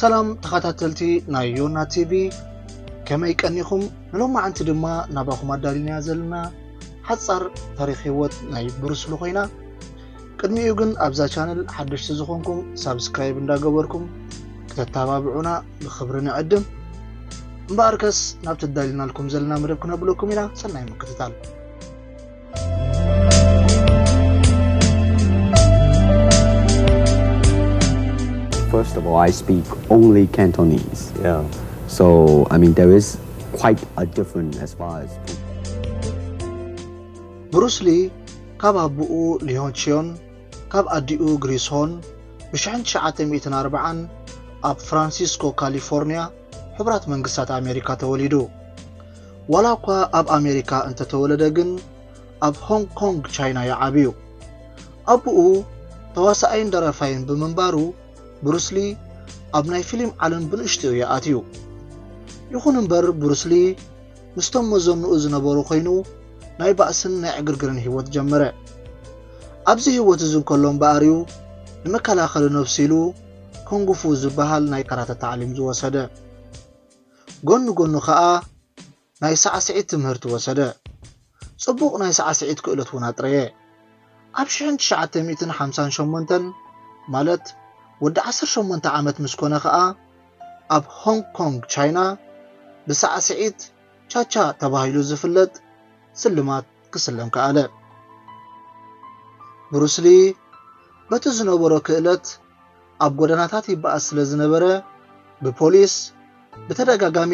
ሰላም ተኸታተልቲ ናይ ዮና ቲቪ ከመይ ቀኒኹም ንሎማዓንቲ ድማ ናባኹም ኣዳሊናያ ዘለና ሓጻር ታሪኽ ህይወት ናይ ብሩስ ሊ ኮይና ቅድሚኡ ግን ኣብዛ ቻነል ሓደሽቲ ዝኾንኩም ሳብስክራይብ እንዳገበርኩም ከተተባብዑና ብክብሪ ንዕድም እምበኣር ከስ ናብ ተዳልናልኩም ዘለና መደብ ክነብለኩም ኢና ሰናይ ምክትታል First of all, I speak only Cantonese. Yeah. So, I mean, there is quite a difference as far as ብሩስሊ ካብ ኣቦኡ ሊዮንቺዮን ካብ ኣዲኡ ግሪስ ሆን ብ ሽሕን ትሽዓተ ሚእትን ኣርባዓን ኣብ ፍራንሲስኮ ካሊፎርንያ ሕቡራት መንግስታት ኣሜሪካ ተወሊዱ። ዋላ እኳ ኣብ ኣሜሪካ እንተተወለደ ግን ኣብ ሆንግ ኮንግ ቻይና እዩ ዓብዩ። ኣቡኡ ተዋሳኣይን ደራፋይን ብምንባሩ ብሩስሊ ኣብ ናይ ፊሊም ዓለም ብንእሽትኡ እዩ ኣትዩ። ይኹን እምበር ብሩስሊ ምስቶም መዘንኡ ዝነበሩ ኰይኑ፣ ናይ ባእስን ናይ ዕግርግርን ህይወት ጀመረ። ኣብዚ ህይወት እዚ እንከሎ እምበኣር'ዩ ንመከላኸሊ ነብሱ ኢሉ ኩንግፉ ዝበሃል ናይ ካራተ ታዕሊም ዝወሰደ። ጐኒ ጐኑ ከኣ ናይ ሳዕስዒት ትምህርቲ ወሰደ። ጽቡቕ ናይ ሳዕስዒት ክእለት እውን ኣጥረየ። ኣብ ሽሕን ትሽዓተ ሚእትን ሓምሳን ሸሞንተን፣ ማለት ወዲ ዓሰርተ ሸሞንተ ዓመት ምስ ኰነ ኸኣ፣ ኣብ ሆንግ ኮንግ ቻይና ብሳዕስዒት ቻ-ቻ ተባሂሉ ዝፍለጥ ስልማት ክስለም ከኣለ። ብሩስ ሊ በቲ ዝነበሮ ክእለት፣ ኣብ ጎደናታት ይበኣስ ስለ ዝነበረ ብፖሊስ ብተደጋጋሚ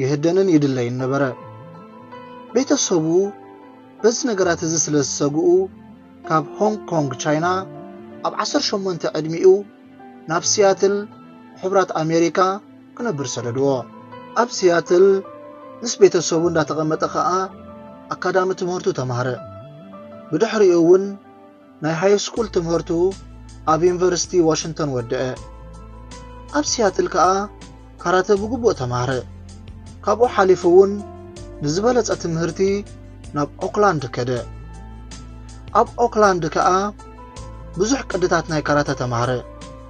ይህደንን ይድለይን ነበረ። ቤተ ሰቡ በዚ ነገራት እዚ ስለ ዝሰግኡ ካብ ሆንግ ኮንግ ቻይና ኣብ ዓሰርተ ሸሞንተ ዕድሚኡ ናብ ሲያትል ሕቡራት ኣሜሪካ ክነብር ሰደድዎ። ኣብ ሲያትል ምስ ቤተ ሰቡ እንዳተቐመጠ ከኣ ኣካዳሚ ትምህርቱ ተማህረ። ብድሕሪኡ እውን ናይ ሃይስኩል ትምህርቱ ኣብ ዩኒቨርሲቲ ዋሽንግተን ወደኣ። ኣብ ሲያትል ከኣ ካራተ ብግቡእ ተማህረ። ካብኡ ሓሊፉ እውን ንዝበለጸ ትምህርቲ ናብ ኦክላንድ ከደ። ኣብ ኦክላንድ ከኣ ብዙሕ ቅድታት ናይ ካራተ ተማህረ።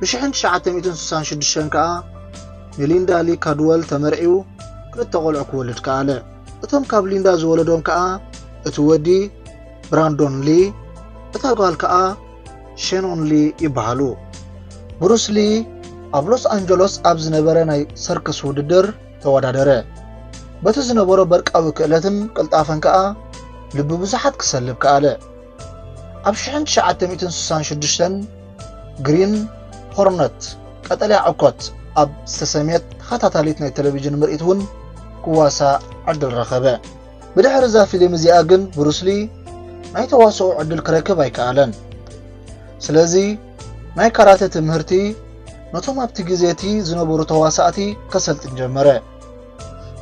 ብ1966 ከኣ ንሊንዳ ሊ ካድወል ተመርዕዩ ክልተ ቆልዑ ክወልድ ከኣለ። እቶም ካብ ሊንዳ ዝወለዶም ከኣ እቲ ወዲ ብራንዶን ሊ እታ ጓል ከኣ ሸኖን ሊ ይበሃሉ። ብሩስ ሊ ኣብ ሎስ ኣንጀሎስ ኣብ ዝነበረ ናይ ሰርከስ ውድድር ተወዳደረ። በቲ ዝነበሮ በርቃዊ ክእለትን ቅልጣፈን ከኣ ልቢ ብዙሓት ክሰልብ ከኣለ። ኣብ ሽሕን ትሽዓተ ሚእትን ስሳን ሽዱሽተን ግሪን ሆርነት፣ ቀጠልያ ዕኮት፣ ኣብ ዝተሰምየት ተኸታታሊት ናይ ተለቪዥን ምርኢት እውን ክዋሳእ ዕድል ረኸበ። ብድሕሪ እዛ ፊልም እዚኣ ግን ብሩስ ሊ ናይ ተዋስኦ ዕድል ክረክብ ኣይከኣለን። ስለዚ ናይ ካራተ ትምህርቲ ነቶም ኣብቲ ግዜ እቲ ዝነበሩ ተዋሳእቲ ከሰልጥን ጀመረ።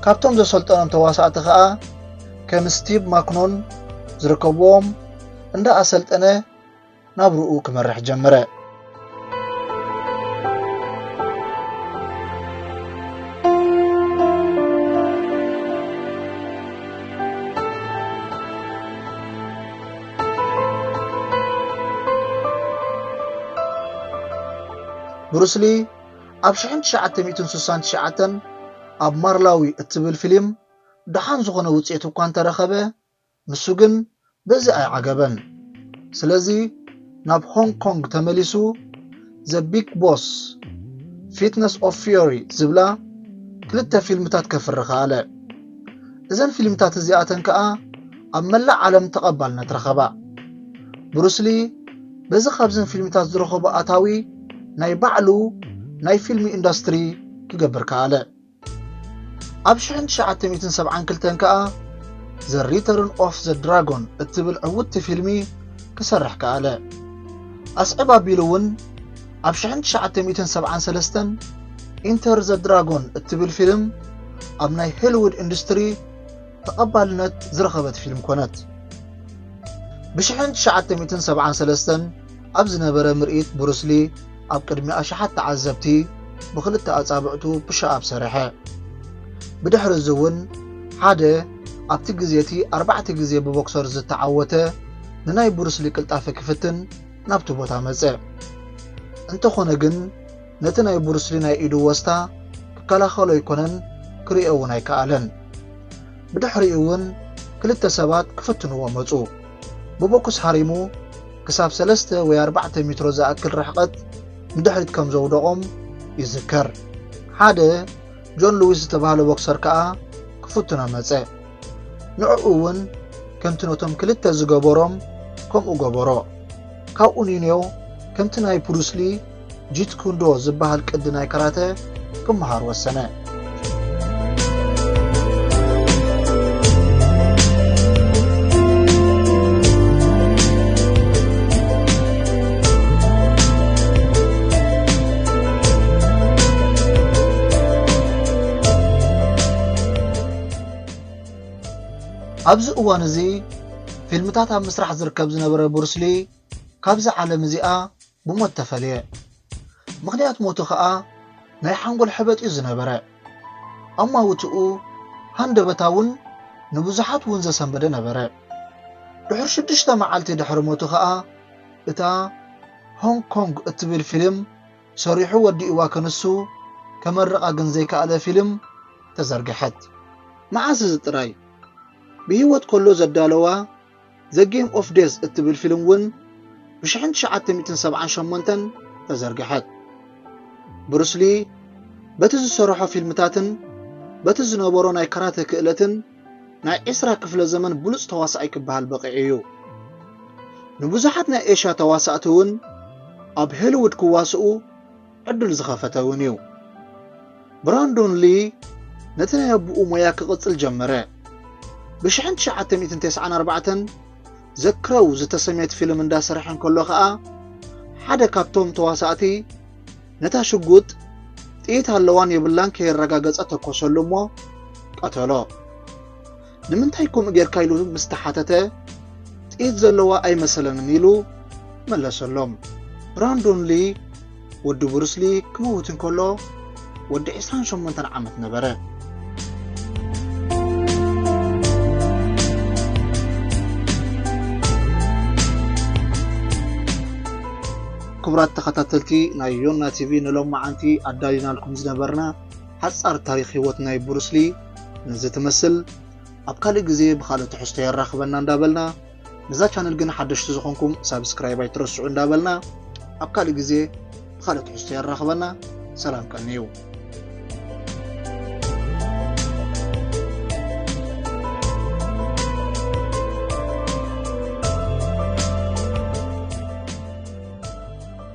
ካብቶም ዘሰልጠኖም ተዋሳእቲ ከኣ ከም ስቲቭ ማክኖን ዝርከብዎም እንዳ ኣሰልጠነ ናብርኡ ክመርሕ ጀመረ። ብሩስሊ ኣብ ሽሕን ትሽዓተ ሚእትን ስሳን ትሽዓተን ኣብ ማርላዊ እትብል ፊሊም ደሓን ዝኾነ ውጽኢት እኳ እንተረኸበ ንሱ ግን በዚ ኣይዓገበን ስለዚ ናብ ሆንግ ኮንግ ተመሊሱ The Big Boss Fitness of Fury ዝብላ ክልተ ፊልምታት ከፍሪ ከኣለ። እዘን ፊልምታት እዚኣተን ከኣ ኣብ መላእ ዓለም ተቐባልነት ረኸባ። ብሩስ ሊ በዚ ካብዘን ፊልምታት ዝረኸቦ ኣታዊ ናይ ባዕሉ ናይ ፊልም ኢንዳስትሪ ክገብር ከኣለ። ኣብ ሽሕን ትሽዓተ ሚእትን ሰብዓን ክልተን ከኣ ዘ ሪተርን ኦፍ ዘ ድራጎን እትብል ዕውትቲ ፊልሚ ክሰርሕ ከኣለ። ኣስዕብ ኣቢሉ እውን ኣብ ሽሕን ትሽዓተ ሚእትን ሰብዓን ሰለስተን ኢንተር ዘ ድራጎን እትብል ፊልም ኣብ ናይ ሆሊውድ ኢንዱስትሪ ተቐባልነት ዝረኸበት ፊልም ኮነት። ብሽሕን ትሽዓተ ሚእትን ሰብዓን ሰለስተን ኣብ ዝነበረ ምርኢት ብሩስ ሊ ኣብ ቅድሚ ኣሽሓት ተዓዘብቲ ብኽልተ ኣጻብዕቱ ፑሽኣፕ ሰርሐ። ብድሕሪ እዚ እውን ሓደ ኣብቲ ግዜ እቲ ኣርባዕተ ግዜ ብቦክሰር ዝተዓወተ ንናይ ብሩስ ሊ ቅልጣፈ ክፍትን ናብቲ ቦታ መጸ። እንተኾነ ግን፣ ነቲ ናይ ቡሩስሊ ናይ ኢዱ ወስታ ክከላኸሎ ኣይኮነን ክሪኦ እውን ኣይከኣለን። ብድሕሪኡ እውን ክልተ ሰባት ክፍትንዎ መጹ። ብቦክስ ሃሪሙ ክሳብ ሰለስተ ወይ ኣርባዕተ ሚትሮ ዝኣክል ርሕቐት ንድሕሪት ከም ዘውደቖም ይዝከር። ሓደ ጆን ሉዊስ ዝተባህለ ቦክሰር ከኣ ክፍትኖ መጸ። ንዕኡ እውን ከምቲ ነቶም ክልተ ዝገበሮም ከምኡ ገበሮ። ካብኡ ኒንዮ ከምቲ ናይ ቡሩስሊ ጂት ኩንዶ ዝበሃል ቅዲ ናይ ካራተ ክመሃር ወሰነ። ኣብዚ እዋን እዚ ፊልምታት ኣብ ምስራሕ ዝርከብ ዝነበረ ቡርስሊ ካብዚ ዓለም እዚኣ ብሞት ተፈልየ። ምኽንያት ሞቱ ከኣ ናይ ሓንጎል ሕበጥ'ዩ ዝነበረ። ኣማውትኡ ሃንደበታውን ንብዙሓት'ውን ዘሰንበደ ነበረ። ድሑር ሽዱሽተ መዓልቲ ድሕሪ ሞቱ ከኣ እታ ሆንግ ኮንግ እትብል ፊልም ሰሪሑ ወዲእዋ ክንሱ ከመርቓ ግን ዘይከኣለ ፊልም ተዘርግሐት። መዓስ እዚ ጥራይ ብህይወት ከሎ ዘዳለዋ ዘ ጌም ኦፍ ዴዝ እትብል ፊልም እውን ብሽሕን ትሽዓተ ሚእትን ሰብዓን ሸሞንተን ተዘርግሐት። ብሩስ ሊ በቲ ዝሰርሖ ፊልምታትን በቲ ዝነበሮ ናይ ካራተ ክእለትን ናይ ዕስራ ክፍለ ዘመን ብሉጽ ተዋሳኣይ ክበሃል በቒዑ እዩ። ንብዙሓት ናይ ኤሽያ ተዋሳእቲ እውን ኣብ ሆሊዉድ ክዋስኡ ዕድል ዝኸፈተ እውን እዩ። ብራንዶን ሊ ነቲ ናይ ኣቦኡ ሞያ ክቕጽል ጀመረ። ብሽሕን ትሽዓተ ሚእትን ተስዓን ኣርባዕተን The Crow ዝተሰምየት ፊልም እንዳሰርሐ እንከሎ ከኣ ሓደ ካብቶም ተዋሳእቲ ነታ ሽጉጥ ጥይት ኣለዋን የብላን ከየረጋገጸ ተኮሰሉ እሞ ቀተሎ። ንምንታይ ከምኡ ጌርካ ኢሉ ምስ ተሓተተ፣ ጥይት ዘለዋ ኣይመሰለንን ኢሉ መለሰሎም። ብራንዶን ሊ፣ ወዲ ብሩስ ሊ፣ ክመውት እንከሎ ወዲ ዕስራን ሸሞንተን ዓመት ነበረ። ክቡራት ተኸታተልቲ ናይ ዮና ቲቪ ንሎማዓንቲ ኣዳሊናልኩም ዝነበርና ሓጻር ታሪኽ ህይወት ናይ ብሩስ ሊ ነዚ ትመስል ኣብ ካልእ ግዜ ብካልእ ትሕዝቶ የራኽበና እንዳበልና ነዛ ቻነል ግን ሓደሽቲ ዝኾንኩም ሳብስክራይብ ኣይትረስዑ እንዳበልና ኣብ ካልእ ግዜ ብካልእ ትሕዝቶ የራኽበና ሰላም ቀንዩ